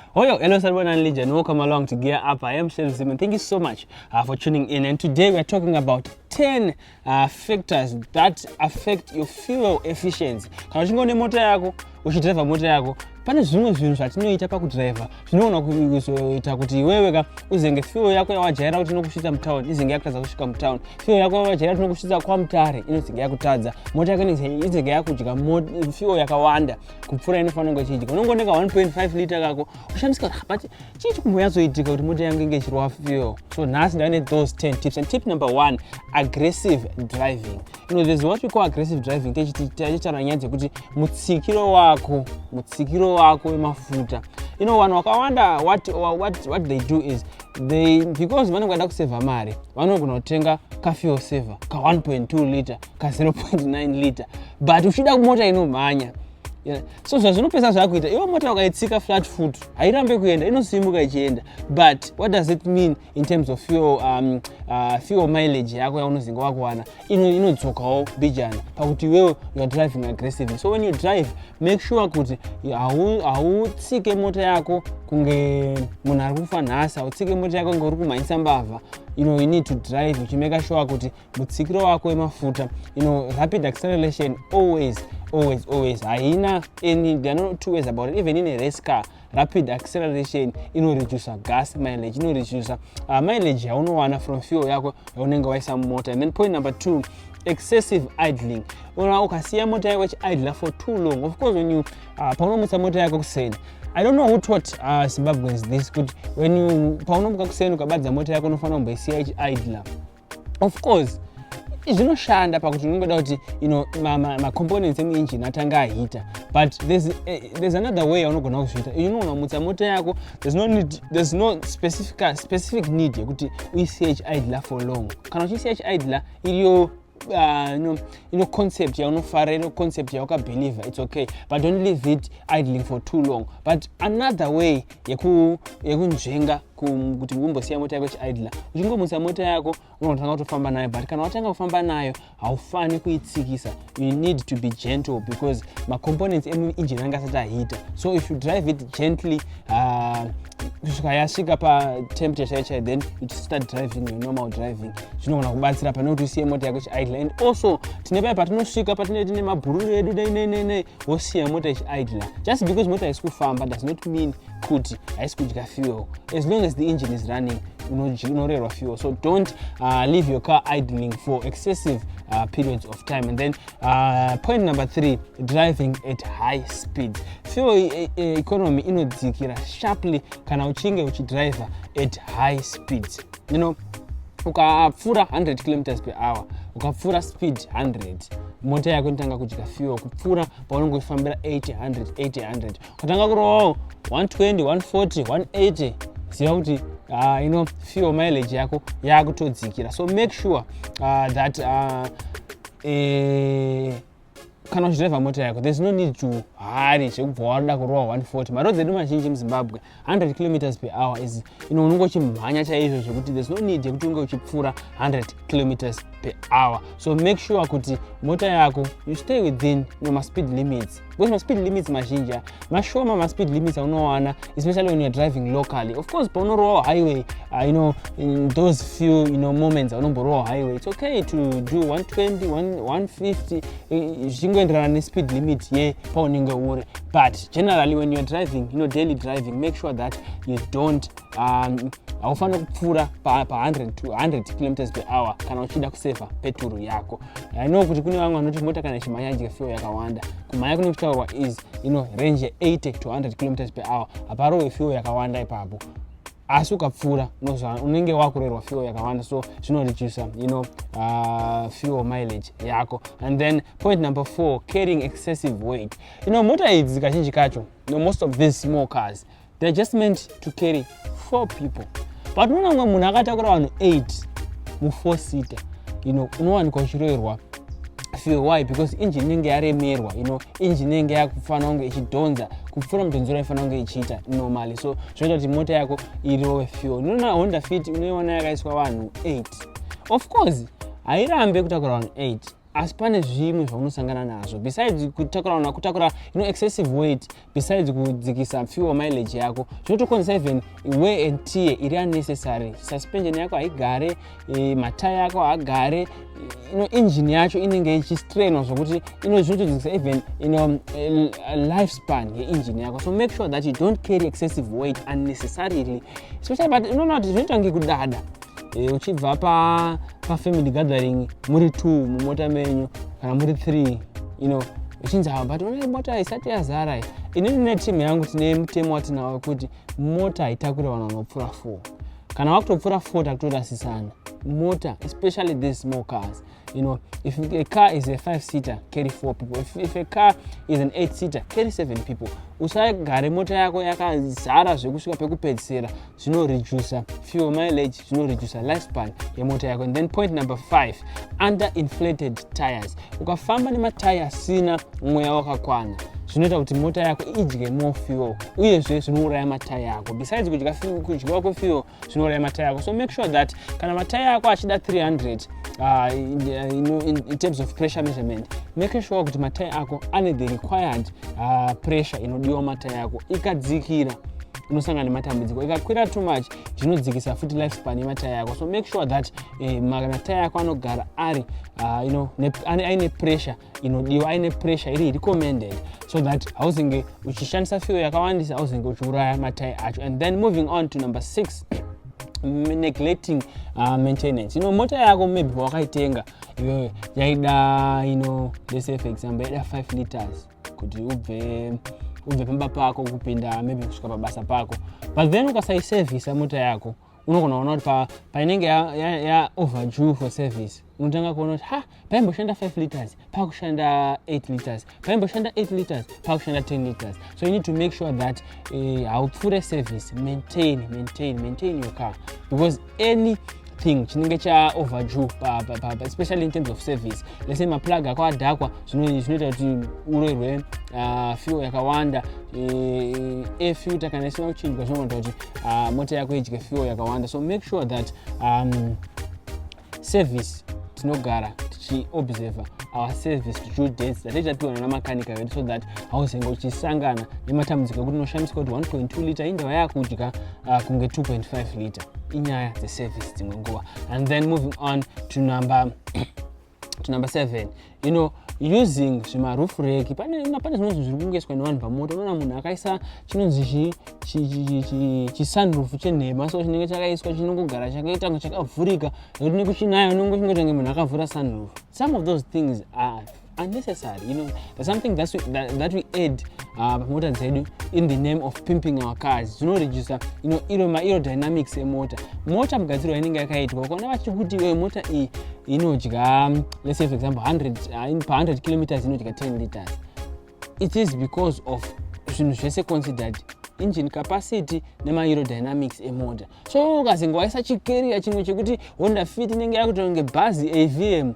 Hoyo, hello Salman and Legion, welcome along to Gear Up. I am Shelf Zimon. Thank you so much uh, for tuning in. And today we are talking about 10 uh, factors that affect your fuel efficiency. Kana uchinge une mota yako, uchidriver mota yako, pane zvimwe zvinhu zvatinoita pakudriver zvinogona kuzoita kuti iwewe ka uzenge fuel yako yawajaira kuti inokusvitsa mutown izenge yakutadza kusvika mutown fuel yako yawajaira kuti inokusvitsa kwamutare inozenge yakutadza mota yako izenge yakudya fuel yakawanda kupfuura inofanira kunge ichiitika unongoneka 1.5 liter kako ushandisa ah, but chii chikumboyatsoitika kuti mota yangu inge ichirwa fuel so nhasi ndave nethose 10 tips and tip number one aggressive driving you know there's what we call aggressive driving techiti taichitaura nyaya dzekuti mutsikiro wako mutsikiro wako wemafuta you know vanhu vakawanda what, what, what they do is they because vanenge vaida kusevha mari vanogona kutenga kafuel saver ka 1.2 liter ka 0.9 liter but uchida mota inomhanya so zvazvinopesa zvakuita iwe mota ukaitsika flat foot hairambe kuenda inosimuka ichienda but what does it mean in terms of fuel, um, uh, fuel mileage yako yaunozinga wakuwana inodzokawo ino bijana pakuti iwewe youare driving aggressively so when you drive make sure kuti hautsike mota yako kunge munhu ari kufa nhasi hautsike mota yako kunge uri kumhanyisa mbavha you know you need to drive uchimeka sure kuti mutsikiro wako wemafuta you know rapid acceleration always always always haina any there are no two ways about it even in a race car rapid acceleration inoreducer gas mileage inoreducer uh, mileage yaunowana from fuel yako yaunenge waisa mumota and then point number two excessive idling ona ukasiya mota yako ichiidla for too long of course when you uh, paunomutsa mota yako kuseni i don't know who taught uh, zimbabweans this kuti when you paunomuka kuseni ukabadza mota yako unofanira kumboisiya ichiidla of course zvinoshanda pakuti unongoda kuti you know, macomponents ma, ma emuengine atanga ahita but there's, uh, there's another way aunogona kuzviita you know unamutsa mota yako there's no, need, there's no specific, specific need yekuti uise chidler for long kana uchiisa chidler iriyo uh, no, ino concept yaunofara ino concept yaukabeliever its okay but don't leave it idling for too long but another way yekunzvenga yeku kuti umbosiya mota yako ichiidla uchingomutsa mota yako unotanga kutofamba nayo but kana watanga kufamba nayo haufani kuitsikisa you need to be gentle because macomponents emuinjini anga asati ahita so if you drive it gently uh, kusvika yasvika patemperature chaiyo chaiyo then it start driving your normal driving zvinogona kubatsira pane kuti usiye mota yako ichiidle and also tine paya patinosvika patinee tine mabhururu edu dai nei nei nei wosiya mota ichiidla just because mota haisi kufamba does not mean kuti haisi kudya fuel as long as the engine is running unorerwa fuel so don't uh, leave your car idling for excessive uh, periods of time and then uh, point number three driving at high speed fuel e, e, economy inodzikira sharply kana uchinge uchidriver at high speed you know ukapfuura 100 kilometers per hour ukapfuura speed 100 mota yako inotanga kudya fuel kupfuura paunenge uchifambira 800 800 Tatanga kurovawo 120, 140, 180 ziva kuti uh, ino fuel mileage yako yakutodzikira so make sure uh, that uh, eh, kana uchidriva mota yako there's no need to hari zvekubva waroda kurova 140 maroad edu mazhinji muzimbabwe 100 kilometers per hour is ino unenge uchimhanya chaizvo zvekuti there's no need yekuti unge uchipfuura 100 kilometers per hour so make sure kuti mota yako you stay within no maspeed limits because maspeed limits mazhinji aya mashoma maspeed limits aunowana especially when youare driving locally of course paunorowawo highway uh, you know in those few you know moments aunomborowawo highway its okay to do 120 150 eh, zvichingoenderana nespeed limit ye paunenge uri but generally when youare driving you know daily driving make sure that you don't um, haufanira kupfuura pa100 kilometers per hour kana uchida kusevha peturu yako I know kuti kune vamwe vanoti mota kana ichimhanya idya fuel yakawanda kumhanya kune kuchitaurwa is you know range 80 to 100 kilometers per hour haparowe fuel yakawanda ipapo asi ukapfuura unenge wakurerwa fuel yakawanda so zvinoreduce you know uh, fuel mileage yako and then point number four carrying excessive weight you know mota idzi kazhinji kacho you know, most of these small cars They're just meant to carry four people. But unoona mumwe munhu akatakura vanhu eight mufour seater, you know, unowanikwa uchiroerwa fuel. Why? Because engine inenge yaremerwa, you know, engine inenge yakufanira kunge ichidhonza kupfuura mudhonzero yaifanira kunge ichiita normally. So zvinoita kuti mota yako irowe fuel. Unoona Honda Fit unoiona yakaiswa vanhu eight. Of course, hairambe kutakura vanhu eight. asi pane zvimwe zvaunosangana nazvo besides kutakura kutakura you know, excessive weight besides kudzikisa fuel mileage yako zvinotokonzesa even way and tie iri unnecessary suspension yako haigare e, mataya ako haagare you know, engine yacho inenge ichistrainwa zvokuti zvinotodzikisa even you know, e, life span yeengine yako so make sure that you don't carry excessive weight unnecessarily especially but unoona kuti zvinoita kunge kudada e, uchibva pa, pa family gathering muri two mumota menyu kana muri three you know uchinzi hava but unai mota isati yazara inini netimu yangu tine mutemo watinawo wekuti mota haitakure vanhu vanopfuura four kana vakutopfuura four takutorasisana mota especially these small cars you know if a car is a five seater carry four people if, if a car is an eight seater carry seven people usagare mota yako yakazara zvekusvika pekupedzisira zvinoreducer fuel mileage zvinoreducer lifespan yemota yako and then point number five under inflated tires ukafamba nemataya asina mweya wakakwana zvinoita kuti mota yako idye more fuel uyezve zvinouraya mataya ako besides kudya kudyiwa kwefuel zvinouraya matayi ako so make sure that kana matayi ako achida 300 uh, in, uh, in, in, in terms of pressure measurement make sure kuti matayi ako ane the required uh, pressure inodiwa matayi ako ikadzikira unosangana nematambudziko ikakwira too much zvinodzikisa futi life span yemataya yako so make sure that eh, mataya yako anogara ari uh, you know, aine pressure inodiwa aine pressure iri recommended so that hauzenge uchishandisa fuel yakawandisa hauzenge uchiuraya matai acho and then moving on to number six neglecting uh, maintenance ino mota yako maybe pawakaitenga iyoyo yaida ino let's say for example yaida 5 liters kuti ubve ubve pamba pako kupinda maybe kusvika pabasa pako but then ukasaiservisa mota yako unogona kuona kuti painenge yaoverdue for service unotanga kuona kuti ha paimboshanda 5 liters pakushanda 8 liters paimboshanda 8 liters pakushanda 10 liters so you need to make sure that eh, haupfure service maintain maintain maintain your car because any thing chinenge chaoverdue especially in terms of service let's say maplug ako adhakwa zvinoita kuti uroirwe ah, fuel yakawanda eh, eh, air filter kana isina kuchinjwa zvinoita kuti uh, mota yako idye fuel yakawanda so make sure that um, service tinogara tichiobserver our service due dates dzatai tatiwana namakanika vedu so that hauzenge uchisangana nematambudziko ekuti unoshamisika kuti 1.2 liter indava yakudya uh, kunge 2.5 liter inyaya dzeservice dzimwe nguva and then moving on to number to number seven you know using zvimaroof reki pane zvinonzi zviri kungoiswa nevanhu pamoto unoona munhu akaisa chinonzi chisunroof chenhema so chinenge chakaiswa chinongogara chakaita kunge chakavhurika nekuti nekuchinaya unongo chingotange munhu akavhura sunroof some of those things are unnecessary you know there's something that we, that, that we add uh, pamota uh, dzedu in the name of pimping our cars zvinoreducer you know iro mairo dynamics emota mota mugadzirwa inenge yakaitwa ukaona vachikuti iwe mota iyi inodya let's say for example 100 uh, pa 100 kilometers inodya 10 liters it is because of zvinhu zvese considered engine capacity nemaaerodynamics emota so ukazinge waisa chikeriya chimwe chekuti honda fit inenge yakuita kunge bhazi avm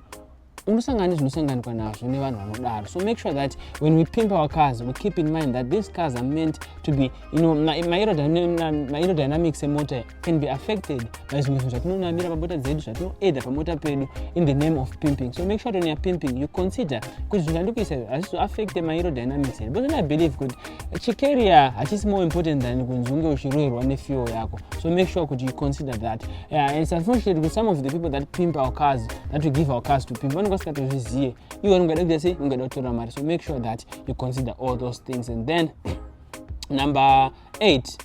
unosangana nezvinosanganikwa nazvo nevanhu vanodaro so make sure that when we pimp our cars we keep in mind that these cars are meant to be you know, maerodynamics emota can be affected by zvimwe zvinhu zvatinonamira pamota dzedu zvatinoedha pamota pedu in the name of pimping so make sure when youare pimping you consider kuti zvinhu zvandikuisa hazvizoaffecte mairo dynamics here because i believe kuti chikeria hachisi more important than kunzi unge uchiroerwa nefuel yako so make sure kuti you consider that yeah, and it's unfortunate kuti some of the people that pimp our cars that we give our cars to pimp vanenge vasingatozvizive iwe ungada kuita sei ungada kutora mari so make sure that you consider all those things and then number eight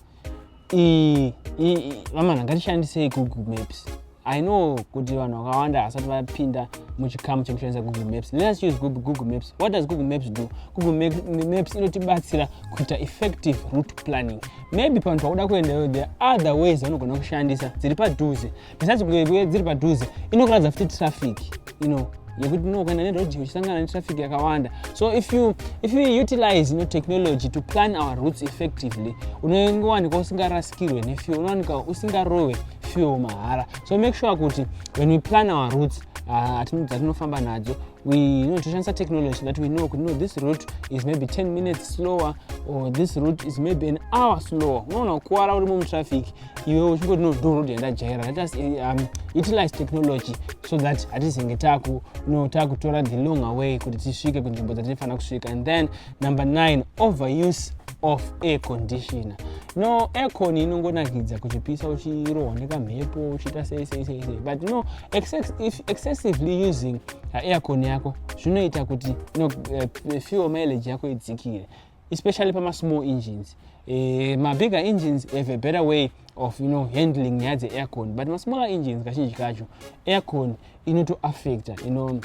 vamana ngatishandisei google maps i know kuti vanhu vakawanda hasati vapinda muchikamu chekushandisa google maps let's use google maps what does google maps do google maps inotibatsira kuita effective route planning maybe panhu pakuda kuendayo the other ways vanogona kushandisa dziri padhuze besides kuve dziri padhuze inokuratidza futi traffic you know yekuti unokuenda neroad uchisangana netraffic yakawanda so if you, if you utilize no technology to plan our routes effectively unongowanika usingarasikirwe nefuel unowanika usingarohwe fuel mahara so make sure kuti when we plan our routes ah, dzatinofamba uh, nadzo we you know, toshandisa technology that we know kuti no this route is maybe 10 minutes slower or this route is maybe an hour slower unoona kukuvara uri mumutraffic iwe uchingoti no download yandajaira let us eh, um, utilize technology so that hatizenge taku no takutora the long away kuti tisvike kunzvimbo dzatinofanira kusvika and then number 9 overuse of air conditioner no aircon inongonakidza kuchipisa uchirohwa nekamhepo uchiita sei sei sei sei but no excess, if excessively using uh, aircon yako zvinoita kuti no uh, fuel mileage yako idzikire especially pama small engines eh, ma bigger engines have a better way of you know handling nyaya dzeaircon but ma smaller engines kazhinji kacho aircon inotoaffecta you know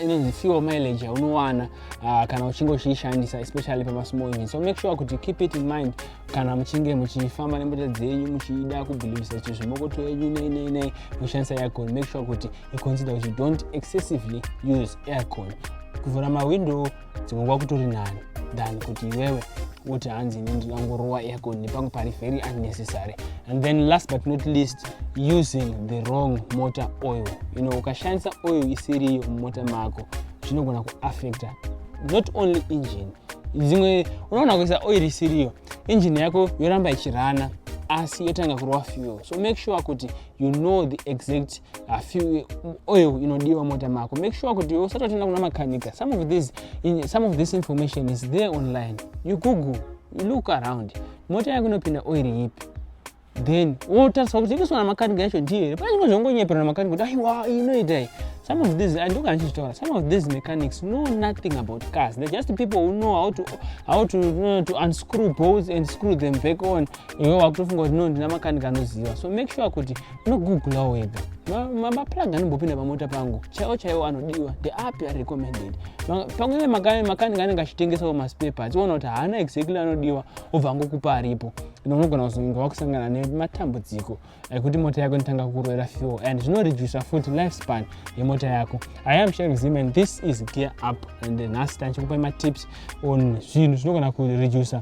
inonzi fuel mileage yaunowana uh, kana uchinge uchiishandisa especially pama small engine so make sure kuti keep it in mind kana muchinge muchifamba nemota dzenyu muchida kubhilivisa kuti zvimokoto yenyu nei nei nei muchishandisa aircon make sure kuti you consider kuti don't excessively use aircon kuvhura mawindow dzimwe nguva kutori nani than kuti iwewe woti hanzi ini ndinangorowa aircon nepangu pari very unnecessary and then last but not least using the wrong motor oil you know ukashandisa oil isiriyo mumota mako zvinogona kuaffecta not only engine dzimwe unoona kuisa oil isiriyo engine yako yoramba ichirana asi yotanga kurova fuel so make sure kuti you know the exact uh, fuel oil inodiwa mota mako make sure kuti usatotoenda kuna makanika some of this in, some of this information is there online you google you look around mota yako inopinda oil yipi then wotariswa kuti ikusona makanika yacho ndiyo here pane zvimwe zvongonyepera namakanika kuti aiwa inoitai some of these and kana chichitaura some of these mechanics know nothing about cars they're just people who know how to, how to, uh, to unscrew bolts and screw them back on iwe wakutofunga kuti no ndina makanika anoziva so make sure kuti unogooglawo wega maplug anombopinda pamota pangu chaiwo chaiwo anodiwa ndeapi ari recommended pamwe ive makanika anenge achitengesawo maspare parts oona kuti haana exactly anodiwa obva angokupa aripo ino unogona kuzonga wakusangana nematambudziko ekuti mota yako inotanga kuroera fuel and zvinoreducer futi life span yemota yako i am sharing zim and this is gear up and nhasi tanchikupai matips on zvinhu zvinogona kureducer